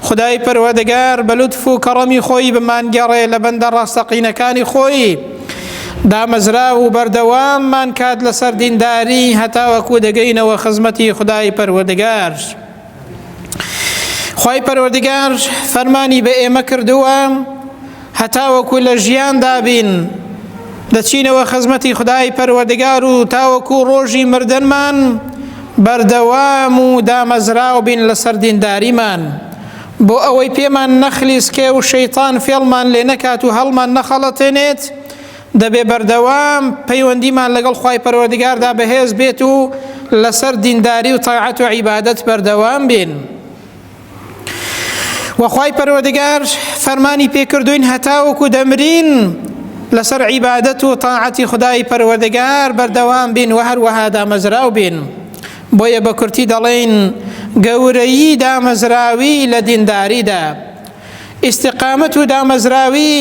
خودای پەروەدگار بە لوتف و کەڕەمی خۆی بمانگێڕێ لە بەندە ڕاستەقینەکانی خۆی، دامەزراو و بەردەواممان کات لەسەر دینداری هەتاوەکو دەگەینەوە خزمەتی خودای پەروەردگار. خوای پەروەردگار فەرمانی بە ئێمە کردووە هەتاوەکو لە ژیاندا بین دەچینەوە خزمەتی خدای پەروەردگار و تاوەکو ڕۆژی مردنمان بەردەوام و دامەزراو بین لەسەر دینداریمان بۆ ئەوەی پێمان نەخلیسکێ و شەیتان فێڵمان لێ نەکات و هەڵمان نەخەڵەتێنێت دەبێ بەردەوام پەیوەندیمان لەگەڵ خی پەروەردگاردا بەهێز بێت و لەسەر دینداری و تاعەت و عیبادەت بەردەوام بین. وەخوای پەروەردگار فەرمانی پێکردوین هەتاوەکو دەمرین لەسەر عیبادەت و تاعەتی خدای پەروەردگار بەردەوام بین و هەروەها دامەزراو بین بۆیە بە کورتی دەڵێین گەورەیی دامەزراوی لە دینداریدا ئیستیقامەت و دامەزراوی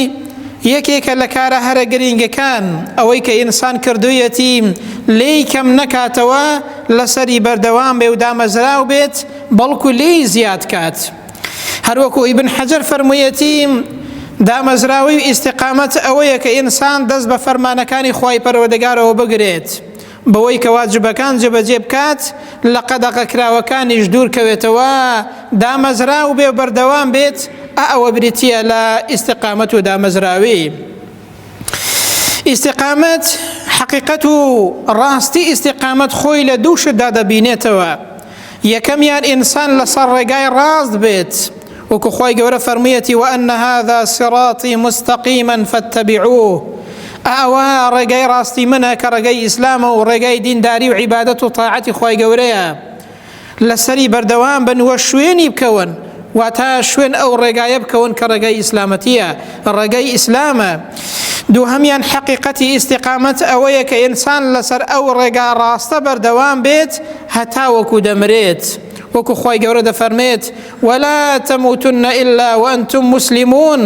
یەکێکە لە کارە هەرە گرینگەکان، ئەوەی کە ئینسان کردوویەتی لێی کەم نەکاتەوە لەسەری بەردەوام بێ و دامەزراو بێت بەڵکو لێی زیاد کات. هەروەکو ئیبن حەجەر فەرموویەتی، دامەزراوەی ئیستیقامەت ئەوەیە کە ئینسان دەست بە فەرمانەکانی خوای پەروەردگارەوە بگرێت بەوەی کە واجبەکان جێبەجێ بکات، لە قەدەغە کراوەکانیش دوور کەوێتەوە، دامەزراو بێ و بەردەوام بێت، ئا ئەوە بریتییە لە ئیستیقامەت و دامەزراوی. ئیستیقامەت، حەقیقەت و ڕاستی ئیستیقامەت خۆی لە دوو شتدا دەبینێتەوە، یەکەمیان ئینسان لەسەر ڕێگای ڕاست بێت، وەکو خوای گەورە فەرموویەتی وأن هذا صراطی مستقیما فاتبعوه ئەوە ڕێگای ڕاستی منە کە ڕێگای ئیسلامە و ڕێگای دینداری و عیبادەت و تاعەتی خوای گەورەیە لەسەری بەردەوام بن وە شوێنی بکەون واتا شوێن ئەو ڕێگایە بکەون کە ڕێگای ئیسلامەتیە ڕێگای ئیسلامە دوو هەمان حقیقەتی ئیسیقامەت ئەوەیە کە ئینسان لەسەر ئەو ڕێگا ڕاستە بەردەوام بێت هەتا وەکو دەمرێت وەکو خی گەورە دەفەرمێت ولا تموتن الا وانتم مسلمون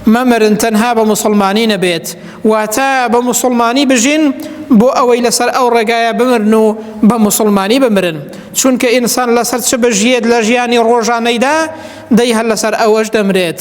مەمرن تەنها بە مسلمانی نەبێت واتە بە مسلمانی بژین بۆ ئەوەی لەسەر ئەو ڕێگایە بمرن و بە مسلمانی بمرن چونکە ئینسان لەسەر چ بژیێت لە ژیانی ڕۆژانەیدا دەی هەر لەسەر ئەوەش دەمرێت.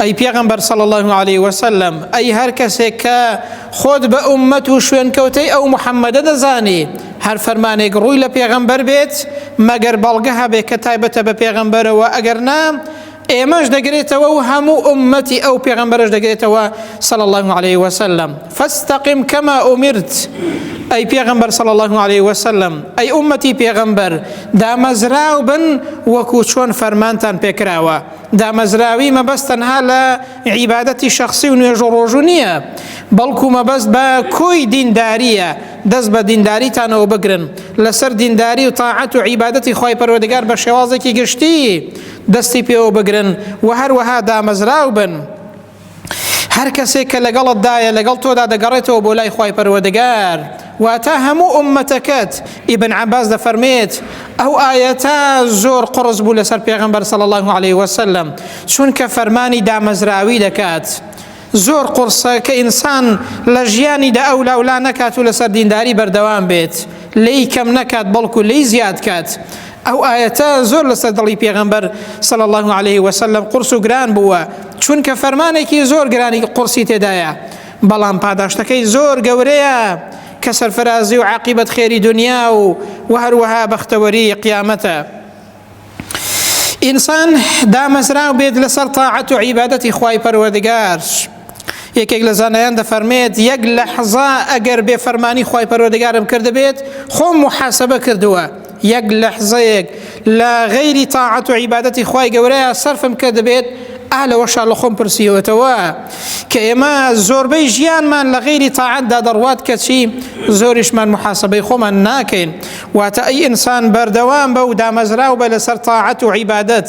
ئەی پێغەمبەر صلی اللە علیه وسلم ئەی هەر کەسێک کە خۆت بە ئومەت و شوێنکەوتەی ئەو محەممەدە دەزانی هەر فەرمانێک ڕووی لە پێغەمبەر بێت مەگەر بەڵگە هەبێت کە تایبەتە بە پێغەمبەرەوە ئەگەر نا ئێمەش دەگرێتەوە و هەموو ئومەتی ئەو پێغەمبەرش دەگرێتەوە صلى الله عليه وسلم فاستقم كما أمرت ئەی پێغەمبەر صلى الله عليه وسلم ئەی ئومەتی پێغەمبەر دامەزراو بن وەکو چۆن فەرمانتان پێکراوە دامەزراوی مەبەست تەنها لە عیبادەتی شەخسی و نوێژ و ڕۆژوو نییە بەڵکو مەبەست بە کۆی دینداریە دەست بە دینداریتانەوە بگرن لەسەر دینداری و تاعەت و عیبادەتی خی پەروەردگار بە شێوازێکی گشتی دەستی پێوە بگرن و هەروەها دامەزراو بن هەر کەسێک کە لەگەڵتدایە لەگەڵ تۆدا دەگەڕێتەوە بۆ لای خی پەروەردەگار واتە هەموو ئومەتەکەت ئیبن عباس دەفەرمێت ئەو ئاەتە زۆر قڕز بوو لەسەر پێغمبەر سەڵ الله عليه وسلم چونکە فەرمانی دامەزراوی دەکات. زۆر قڕسە کە ئینسان لە ژیانیدا ئەو لاولا نەکات و لەسەر دینداری بەردەوام بێت لی کەم نەکات بەڵکو لی زیاد کات ئەو ئایەتە زۆر لەسەر دڵی پێغەمبەر صلی الله علیه وسلم قرس و گران بووە چونکە فەرمانێکی زۆر گرانی قرسی تێدایە بەڵام پاداشتەکەی زۆر گەورەیە کە سەرفرازی و عقیبەت خێری دنیا و و هەروەها بەختەوەری قیامەتە ئینسان دامەزراو بێت لەسەر تاعەت و عیبادەتی خوای پەروەردگار یەکێک لە زانایان دەفەرمێت یەک لە حەزا ئەگەر بێ فەرمانی خی پەرۆدەگارم کردبێت خۆم محاسبە کردووە یەک لە حزەیەک لە غەیری تاعەت و عیباەتی خی گەورەیە سەرفم کە دەبێت ئا لەوەشا لە خۆم پرسیوەتەوە کە ئێمە زۆربەی ژیانمان لە غیری تاعەتدا دەڕوات کەچی زۆریشمان محاسبەی خۆمان ناکەین واتە ئەی ئینسان بەردەوام بە و دامەزراو بە لەسەر تاعەت و عیبادەت.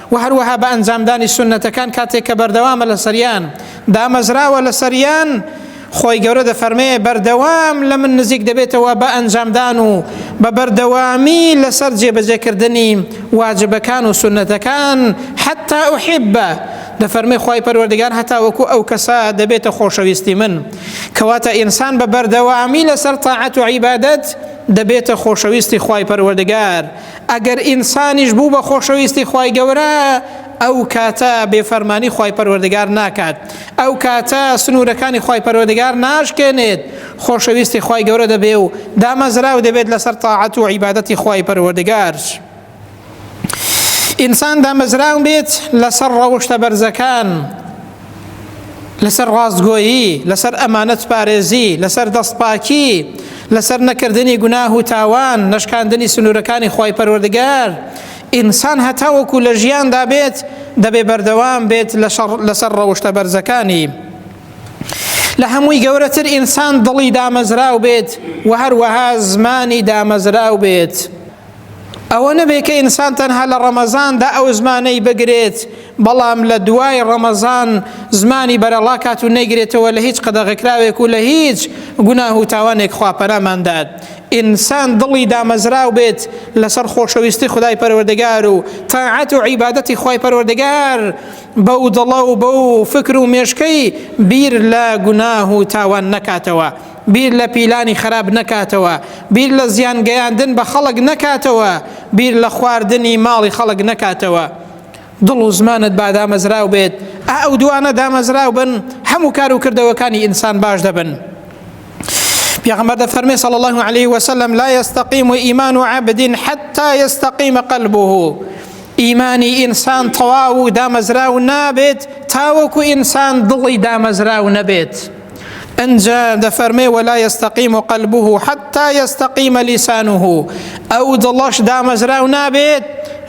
وە هەروەها بە ئەنجامدانی سوننەتەکان کاتێک کە بەردەوامە لەسەریان دامەزراوە لەسەریان خۆی گەورە دەفەرمێ بەردەوام لە من نزیک دەبێتەوە بە ئەنجامدان و بە بەردەوامی لەسەر جێبەجێکردنی واجبەکان و سنەتەکان حتا ئوحیبە دەفەرمی خی پەروەردگار هەتا وەکو ئەو کەسە دەبێتە خۆشەویستی من کەواتە ئینسان بە بەردەوامی لەسەر تاعەت و عیبادەت دەبێتە خۆشەویستی خی پەروەردگار ئەگەر ئینسانیش بوو بە خۆشەویستی خوای گەورە ئەو کاتە بێفەرمانی خوای پەروەردگار ناکات ئەو کاتە سنوورەکانی خوای پەروەردگار ناشکێنێت خۆشەویستی خوای گەورە دەبێ و دامەزراو دەبێت لەسەر تاعەت و عیبادەتی خوای پەروەردگار ئینسان دامەزراو بێت لەسەر ڕەوشتە بەرزەکان لەسەر ڕاستگۆیی لەسەر ئەمانەت پارێزی لەسەر دەستپاکی لەسەر نەکردنی گوناه و تاوان نەشکاندنی سنوورەکانی خی پەروەردگار ئینسان هەتاوەکو لە ژیاندا بێت دەبێ بەردەوام بێت لەسەر ڕەوشتە بەرزەکانی لە هەمووی گەورەتر ئینسان دڵی دامەزراو بێت و هەروەها زمانی دامەزراو بێت. ئەوە نەبێ کە ئینسان تەنها لە ڕەمەزاندا ئەو زمانەی بگرێت بەڵام لە دوای ڕەمەزان زمانی بەرەڵاکات و نەیگرێتەوە لە هیچ قەدەغەکراوێک و لە هیچ گوناه و تاوانێک خواپەراماندات ئینسان دڵی دامەزراو بێت لەسەر خۆشەویستی خدای پەروەردەگار و تاعەت و عیبادەتی خی پەروەردەگار بەو دڵە و بەو فکر و مێشکەی بیر لە گوناه و تاوان نەکاتەوە بیر لە پیلانی خەراپ نەکاتەوە، بیر لە زیان گەیاندن بە خەڵک نەکاتەوە، بیر لە خواردنی ماڵی خەڵک نەکاتەوە. دڵ و زمانت با دامەزراو بێت، ئا ئەو دووانە دامەزراو بن، هەموو کار و کردەوەکانی ئینسان باش دەبن. پێغەمبەر دەفەرمێ صلی الله علیه و سلم لا یستقیم ایمان عبد حتی یستقیم قلبه ئیمانی ئینسان تەواو و دامەزراو نابێت تاوەکو ئینسان دڵی دامەزراو نەبێت. ئنجا دەفەرمێ ولا یستەقیم و قەلبه حتا یستەقیمە لیسانه ئەو دڵەش دامەزراو نابێت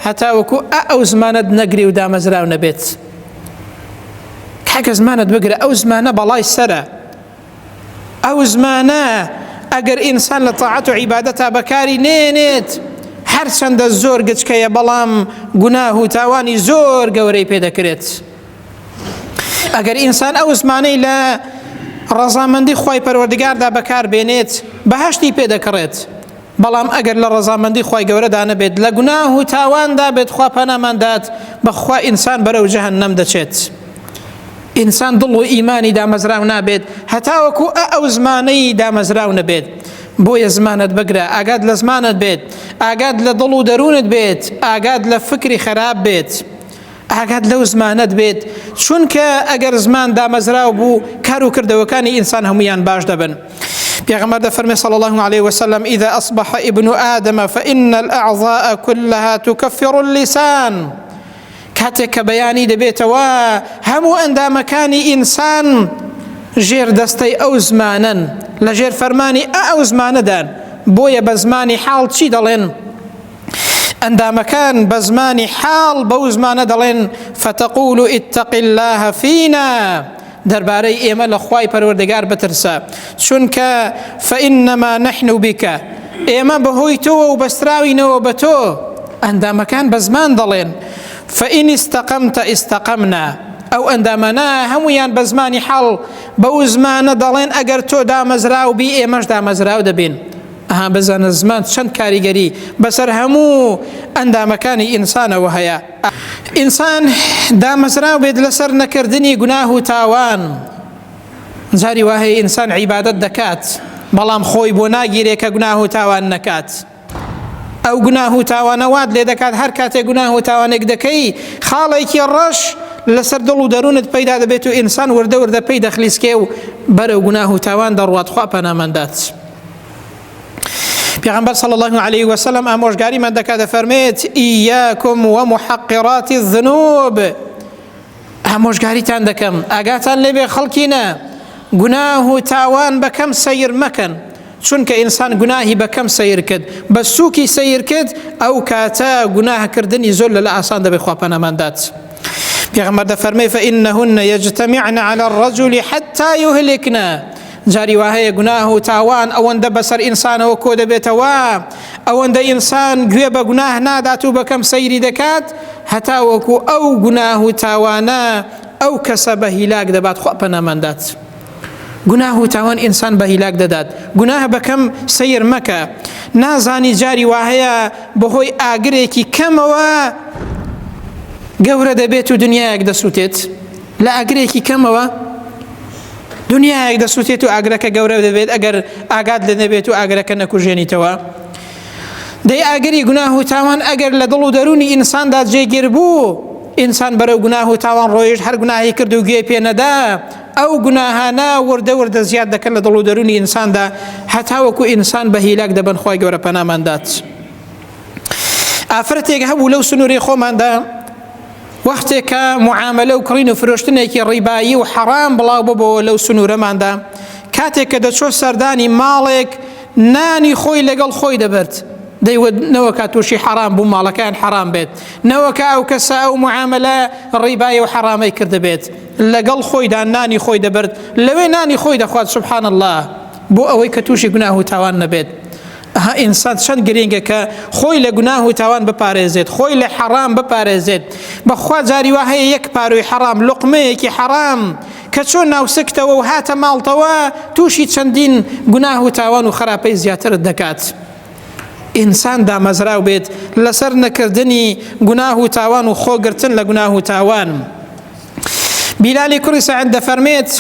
هەتاوەکو ئەو زمانت نەگری و دامەزراو نەبێت کاکە زمانت بگرە ئەو زمانە بەڵای سرە ئەو زمانە ئەگەر ئینسان لە تاعەت و عیبادەتا بەکاری نێنێت هەرچەندە زۆر گچکەیە بەڵام گوناه و تاوانی زۆر گەورەی پێ دەکرێت ئەگەر ئینسان ئەو زمانەی لە ڕەزامەندی خی پەروەردگاردا بەکاربێنێت بەهشتی پێدەکڕێت بەڵام ئەگەر لە ڕەزامەندی خی گەورەدا نەبێت لە گوناه و تاواندا بێت خوا پەناماندات بەخوا ئینسان بەرەو جەهن نەم دەچێت. ئینسان دڵ و ئیمانی دامەزراو نابێت هەتاوەکو ئە ئەو زمانەی دامەزراو نەبێت بۆیە زمانت بگرە ئاگات لە زمانت بێت ئاگات لە دڵ و دەروونت بێت ئاگات لە فکری خراپ بێت. ئاگات لەو زمانت بێت چونکە ئەگەر زمان دامەزراو بوو کار و کردەوەکانی ئینسان هەمویان باش دەبن پێغمبەر دەفەرمێ صلى الله عليه وسلم إذا أصبح ابن آدم فإن الأعضاء كلها تكفر اللسان کاتێک کە بەیانی دەبێتەوە هەموو ئەندامەکانی ئینسان ژێر دەستەی ئەو زمانن لە ژێر فەرمانی ئە ئەو زمانەدان بۆیە بە زمانی حاڵ چی دەڵێن؟ ئەندامەکان بە زمانی حاڵ بەو زمانە دەڵێن فتقول اتق الله فينا دەربارەی ئێمە لە خوای پەروەردەگار بترسە چونکە فإنما نحن بك ئێمە بەهۆی تۆوە و بەستراوینەوە بە تۆ ئەندامەکان بە زمان دەڵێن فإن استقمت استقمنا ئەو ئەندامانە هەمویان بە زمانی حاڵ بەو زمانە دەڵێن ئەگەر تۆ دامەزراو بی ئێمەش دامەزراو دەبین ئەها بزانە زمان چەند کاریگەری بەسەر هەموو ئەندامەکانی ئینسانەوە هەیە. ئینسان دامەزراو بێت لەسەر نەکردنی گوناه و تاوان، جاری وا هەیە ئینسان عیبادەت دەکات، بەڵام خۆی بۆ ناگیرێ کە گوناه و تاوان نەکات. ئەو گوناه و تاوانە وات لێ دەکات هەر کاتێک گوناه و تاوانێک دەکەی خاڵێکی ڕەش لەسەر دڵ و دەروونت پەیدا دەبێت و ئینسان وردە وردە پێی دەخلیسکێ و بەرەو گوناه و تاوان دەڕوات خوا پەناماندات پیغمبر صلی الله علیه و سلم ئامۆژگاری من دەکات دەفەرمێت ئیاکم و محقرات الذنوب ئامۆژگاریتان دەکەم ئاگاتان لێبێ خەڵکینە گوناه و تاوان بەکەم سیر مەکەن چونکە ئینسان گوناهی بەکەم سیر کرد بە سووکی سیر کرد ئەو کاتە گوناهکردنی زۆر لە لە ئاسان دەبێت خواپەنەماندات. پیغمبر دەفەرمێ فإنهن يجتمعن على الرجل حتى يهلكنا جاری وا هەیە گوناه و تاوان ئەوەندە بەسەر ئینسانەوە کۆ دەبێتەوە ئەوەندە ئینسان گوێ بە گوناه نادات و بەکەم سەیری دەکات هەتا وەکو ئەو گوناه و تاوانە ئەو کەسە بە هیلاک دەبات خوا پەناماندات گوناه و تاوان ئینسان بە هیلاک دەدات گوناه بەکەم سیر مەکە نازانی جاری وا هەیە بەهۆی ئاگرێکی کەمەوە گەورە دەبێت و دنیایەک دەسووتێت لە ئاگرێکی کەمەوە دنیایەک دەسووتێت و ئاگرەکە گەورە دەبێت ئەگەر ئاگات لە نەبێت و ئاگرەکە نەکوژێنیتەوە دەی ئاگری گوناه و تاوان ئەگەر لە دڵ و دەرونی ئینساندا جێگیر بوو ئینسان بەرەو گوناه و تاوان ڕۆیشت هەر گوناهی کرد و گوێ پێنەدا ئەو گوناهانە وردە وردە زیاد دەکەن لە دڵ و دەرونی ئینساندا هەتاوەکو ئینسان بە هیلاک دەبن خۆی گەورە پەناماندات ئافرەتێک هەبوو لەو سنووری خۆماندا وەختێک کە معاملە و کڕین و فرۆشتنێکی ڕیبایی و حەڕام بڵاو ببەوە لەو سنوورەماندا کاتێک کە دەچۆ سەردانی ماڵێک نانی خۆی لەگەڵ خۆی دەبرد دەیوت نەوەکە تووشی حەرام بوو ماڵەکەیان حەرام بێت نەوەکە ئەو کەسە ئەو معاملە ڕیبایی و حەرامەی کردبێت لەگەڵ خۆیدا نانی خۆی دەبرد لەوێ نانی خۆی دەخوات سبحان الله بۆ ئەوەی کە تووشی گوناه و تاوان نەبێت ئەها ئینسان چەند گرینگە کە خۆی لە گوناه و تاوان بپارێزێت خۆی لە حەڕام بپارێزێت بەخوا جاری وا هەیە یەک پارۆی حەڕام لقمەیەکی حەڕام کە چۆ ناوسکتەوە و هاتە ماڵتەوە تووشی چەندین گوناه و تاوان و خراپەی زیاترت دەکات. ئینسان دامەزراو بێت لەسەر نەکردنی گوناه و تاوان و خۆگرتن لە گوناه و تاوان. بیلالی کوڕی سەعد دەفەرمێت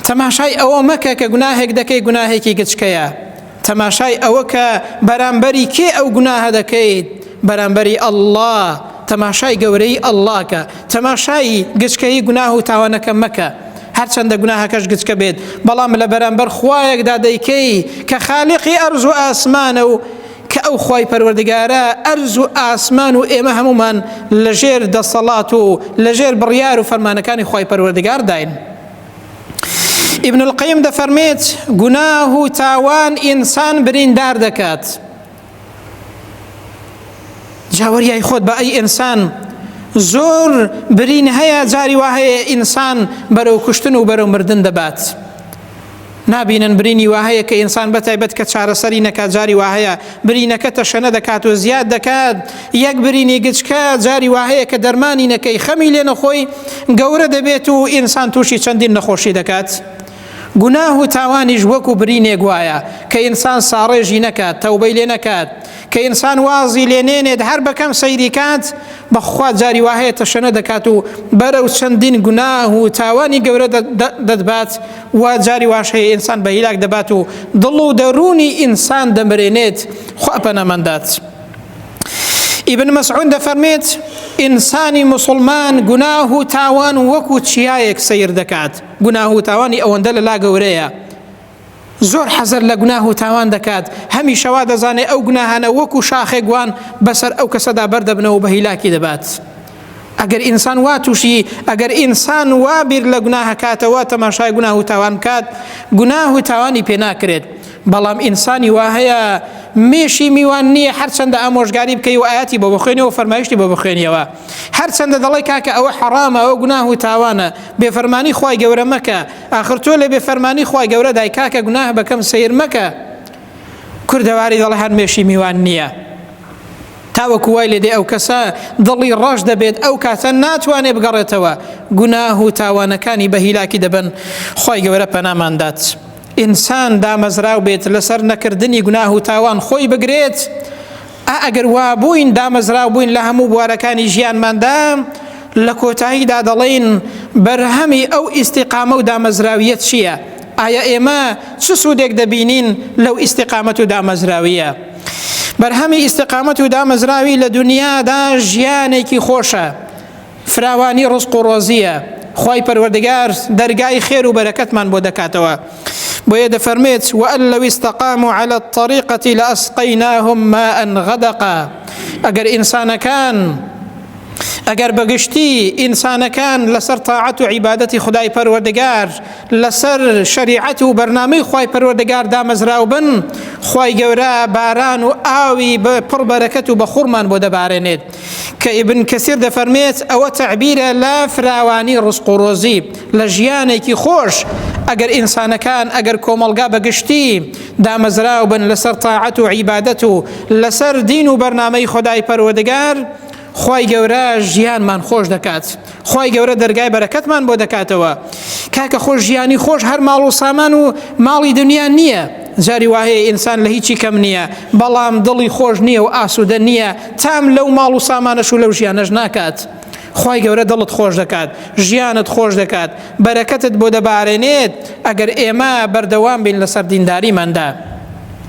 تەماشای ئەوە مەکە کە گوناهێک دەکەی گوناهێکی گچکەیە تەماشای ئەوە کە بەرامبەری کێ ئەو گوناهە دەکەیت بەرامبەری ئەلله تەماشای گەورەی ئەللاکە تەماشایی گچکەی گوناه و تاوانەکە مەکە هەرچەندە گوناهەکەش گچکە بێت بەڵام لە بەرامبەر خوایەکدا دەیکەی کە خالیقی ئەرز و ئاسمانە و کە ئەو خوای پەروەردگارە ئەرز و ئاسمان و ئێمە هەمومان لەژێر دەسەڵات و لەژێر بڕیار و فەرمانەکانی خوای پەروەردگار داین ابن القیم دەفەرمێت گوناه و تاوان ئینسان بریندار دەکات جاوەریای خۆت بە ئەی ئینسان زۆر برین هەیە جاری وا هەیە ئینسان بەرەو کوشتن و بەرەو مردن دەبات نابینن برینی واهەیە کە ئینسان بەتایبەت کە چارەسەری نەکات جاری واهەیە برینەکە تەشەنە دەکات و زیاد دەکات یەک برینی گچکە جاری واهەیە کە دەرمانی نەکەی خەمی لێ نەخۆی گەورە دەبێت و ئینسان تووشی چەندین نەخۆشی دەکات. گوناه و تاوانیش وەکو برینێک وایە کە ئینسان ساڕێژی نەکات تەوبەی لێ نەکات کە ئینسان وازی لێ نێنێت هەر بەکەم سەیری کات بەخوا جاری واهەیە تەشەنە دەکات و بەرەو چەندین گوناه و تاوانی گەورە دەدبات و جاری واش هەیە ئینسان بە هیلاک دەبات و دڵ و دەروونی ئینسان دەمرێنێت خوا پەنەمەندات. ئیبن مەسعود دەفەرمێت ئینسانی مسلمان گوناه و تاوان وەکو چیایەک سیر دەکات گوناه و تاوانی ئەوەندە لەلا گەورەیە زۆر حەزەر لە گوناه و تاوان دەکات، هەمیشە وا دەزانێت ئەو گوناهانە وەکو شاخێک وان بەسەر ئەو کەسەدا بەر دەبنەوە و بە هیلاکی دەبات. ئەگەر ئینسان وا تووشی ئەگەر ئینسان وا بیر لە گوناهەکاتەوە تەماشای گوناه و تاوان بکات، گوناه و تاوانی پێ ناکرێت. بەڵام ئینسانی وا هەیە مێشی میوان نییە هەرچەندە ئامۆژگاری بکەی و ئاەتی بۆ بخوێنەوە فەرمایشتی بۆ بخوێنیەوە هەرچەندە دەڵی کاکە ئەوە حەڕامە ئەوە گوناه و تاوانە بێفەرمانی خی گەورە مەکە ئاخر تۆ لە بێ فەرمانی خوای گەورە دای کاکە گوناه بەکەم سیر مەکە کوردەواری دەڵێ هەر مێشی میوان نییە تاوەکو وای لێ دێ ئەو کەسە دڵی ڕەش دەبێت ئەو کاتە ناتوانێ بگەڕێتەوە گوناه و تاوانەکانی بە هیلاکی دەبن خی گەورە پەناماندات ئینسان دامەزراو بێت لەسەر نەکردنی گوناه و تاوان خۆی بگرێت ئا ئەگەر وابووین دامەزراو بووین لە هەموو بوارەکانی ژیانماندا لە کۆتاییدا دەڵێین بەرهەمی ئەو ئیسیقامە و دامەزراویە چییە؟ ئایا ئێمە چ سوودێک دەبینین لەو ئیسیقامەت و دامەزراویە؟ بەرهەمی ئیسیقامەت و دامەزراوی لە دنیادا ژیانێکی خۆشە فراوانی ڕزق و ڕۆزیە خوای پەروەردگار دەرگای خێر و بەرەکەتمان بۆ دەکاتەوە بۆیە دەفەرمێت وئەن لەوی استقام و على الطريقة لأسقيناهم ماء غدقا ئەگەر ئینسانەکان ئەگەر بەگشتی ئینسانەکان لەسەر تاعەت و عیبادەتی خدای پەروەردگار لەسەر شریعەت و بەرنامەی خی پەروەردگار دامەزراو بن خی گەورە باران و ئاوی پڕ بەرەکەت و بە خورمان بۆ دەبارێنێت کە ئیبن کەسیر دەفەرمێت ئەوە تەعبیرە لە فراوانی ڕسق و ڕۆزی لە ژیانێکی خۆش ئەگەر ئینسانەکان ئەگەر کۆمەڵگا بەگشتی دامەزراو بن لەسەر تاعەت و عیبادەت و لەسەر دین و بەرنمەی خۆدای پەروەدگار خی گەورە ژیانمان خۆش دەکات خوای گەورە دەرگای بەرەکەتمان بۆ دەکاتەوە کاکە خۆش ژیانی خۆش هەر ماڵ و سامان و ماڵی دنیا نییە جاری وایە ئینسان لە هیچی کەم نییە بەڵام دڵی خۆش نییە و ئاسوودە نییە تام لەو ماڵ و سامانەش و لەو ژیانەش ناکات. خی گەورە دڵت خۆش دەکات ژیانت خۆش دەکات بەرەکەتت بۆ دەبارێنێت ئەگەر ئێمە بەردەوام بین لەسەر دینداریماندا.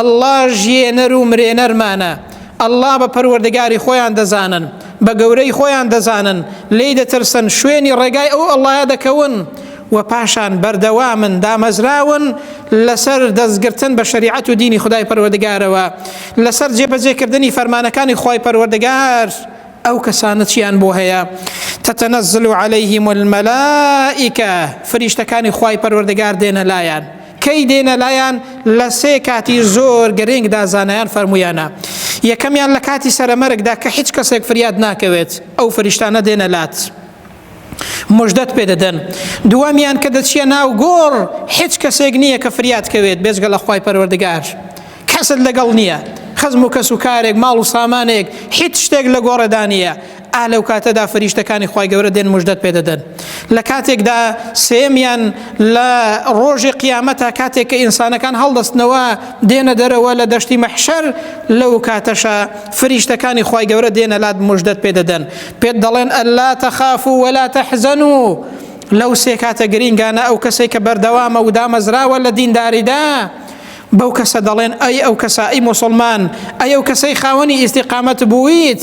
اللە ژیێنەر و مرێنەرمانە اللە بە پەروەردگاری خۆیان دەزانن بە گەورەی خۆیان دەزانن لێی دەترسن شوێنی ڕێگای ئەو اللە دەکەون و پاشان بەردەوامن دامەزراون لەسەر دەستگرتن بە شریعەت و دینی خدای پەروەردگارەوە لەسەر جێبەجێکردنی فەرمانەکانی خی پەروەردگار ئەو کەسانە چیان بۆ هەیە تەتەنەزل و عليهلەیهیم المەلائیکە فریشتەکانی خی پەروەردگار دێنە لایەن کەی دێنە لایان لە سێ کاتی زۆر گرنگدا زانایان فەرموویانە یەکەمیان لە کاتی سەرەمەرگدا کە هیچ کەسێک فریاد ناکەوێت ئەو فریشتانە دێنە لات مژدەت پێ دەدەن دووەمیان کە دەچیە ناو گۆڕ هیچ کەسێک نییە کە فریاد کەوێت بێزگە لە خی پەروەردگار کەست لەگەڵ نییە خزم و کەس و کارێک ماڵ و سامانێک هیچ شتێک لە گۆڕێدا نییە ئا لەوکاتەدا فریشتەکانی خوای گەورە دێن مژدەت پێدەدەن لە کاتێکدا سێمیان لە ڕۆژی قیامەتە کاتێک کە ئینسانەکان هەڵدەستنەوە دێنە دەرەوە لە دەشتی مەحشەر لەو کاتەشە فریشتەکانی خوای گەورە دێنە لات مژدەت پێدەدەن پێت دەڵێن ئەللا تەخاف و وەلا تەحزەن و لەو سێ کاتە گرینگانە ئەو کەسێک کە بەردەوامە و دامەزراوە لە دینداریدا بەو کەسە دەڵێن ئەی ئەو کەسە ئەی مسلمان ئەی ئەو کەسەی خاوەنی ئیسیقامەت بوویت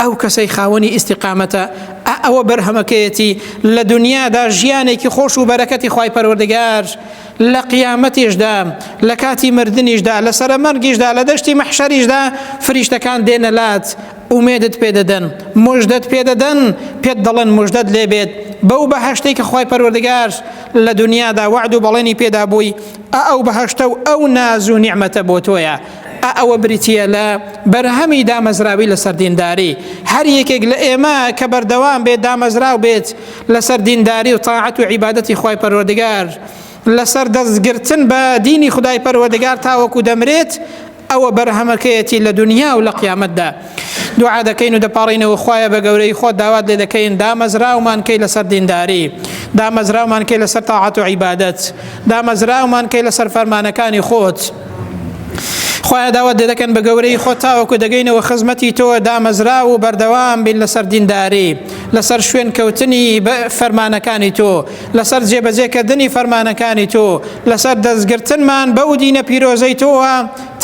ئەو کەسەی خاوەنی ئیستیقامەتە ئا ئەوە بەرهەمەکەیەتی لە دنیادا ژیانێکی خۆش و بەرەکەتی خی پەروەردگار لە قیامەتیشدا لە کاتی مردنیشدا لە سەرەمەرگیشدا لە دەشتی مەحشەریشدا فریشتەکان دێنە لات ئومێدت پێدەدەن مژدەت پێدەدەن پێت دەڵێن مژدەت لێبێت بەو بەهشتەی کە خی پەروەردگار لە دنیادا وعد و بەڵێنی پێدا بووی ئە ئەو بەهشتە و ئەو ناز و نیعممەتە بۆ تۆیە ئا ئەوە بریتییە لە بەرهەمی دامەزراوی لەسەر دینداری هەر یەکێک لە ئێمە کە بەردەوام بێت دامەزراو بێت لەسەر دینداری و تاعەت و عیبادەتی خی پەروەردگار لەسەر دەستگرتن بە دینی خدای پەروەردگار تاوەکو دەمرێت ئەوە بەرهەمەکەیەتی لە دنیا و لە قیامەتدا دوعا دەکەین و دەپاڕینەوە خخوایە بە گەورەی خۆ داوات لێ دەکەین دامەزراومان کەی لەسەر دینداری دامەزراومان کەی لەسەر تاعات و عیبادەت دامەزراومان کەی لەسەر فەرمانەکانی خۆت خوایە داوات لێ دەکەن بە گەورەی خۆ تاوەکو دەگەینەوە خزمەتی تۆ دامەزرا و بەردەوام بین لەسەر دینداری لەسەر شوێن کەوتنی فەرمانەکانی تۆ لەسەر جێبەجێکردنی فەرمانەکانی تۆ لەسەر دەستگرتنمان بەو دینە پیرۆزەی تۆوە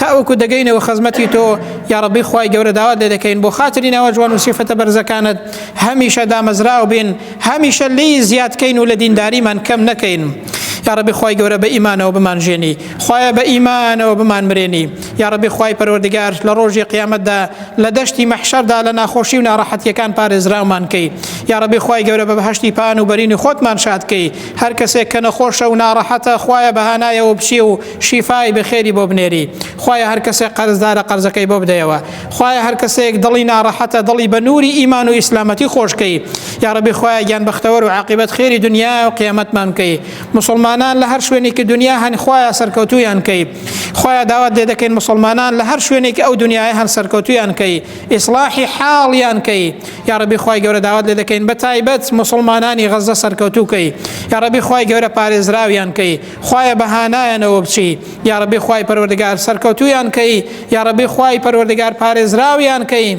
تاوەکو دەگەینەوە خزمەتی تۆ یاڕبی خی گەورە داوات لێ دەکەین بۆ خاتری ناوە جوان و سیفەتە بەرزەکانت هەمیشە دامەزراو بین هەمیشە لی زیادکەین و لە دینداریمان کەم نەکەین یاڕبی خی گەورە بە ئیمانەوە بمانژێنی خوایە بە ئیمانەوە بمان مرێنی یاڕبی خوای پەروەردگار لە ڕۆژی قیامەتدا لە دەشتی مەحشەردا لە ناخۆشی و ناڕەحەتیەکان پارێزراومانکەی یاڕبی خوای گەورە بە بەهشتی پان و بەرینی خۆتمان شادکەی هەر کەسێک کە نەخۆشە و ناڕەحەتە خوایە بەهانایەوە بچی و شیفای بەخێری بۆ بنێری خوایە هەر کەسێک قەرزدارە قەرزەکەی بۆ بدەیەوە خوایە هەر کەسێک دڵی ناڕەحەتە دڵی بە نووری ئیمان و ئیسلامەتی خۆشکەی یاڕبی خوایە گیان بەختەوەر و عقیبەت خێری دنیا و قیامەتمان بکەی مسلمانان لە هەر شوێنێکی دنیا هەن خوایە سەرکەوتویان کەی خوایە داوات لێ دەکەین مسلمانان لە هەر شوێنێکی ئەو دنیای هەن سەرکەوتویان کەی ئیسلاحی حاڵیان کەی یاڕبی خی گەورە داوات لێ دەکەین بە تایبەت مسلمانانی غەزە سەرکەوتو کەی یاڕبی خی گەورە پارێزراویان کەی خوایە بە هانایانەوە بچی یاڕبی خی پەروەردگار سەرکەوتویان کەی یاڕبی خی پەروەردگار پارێزراویان کەین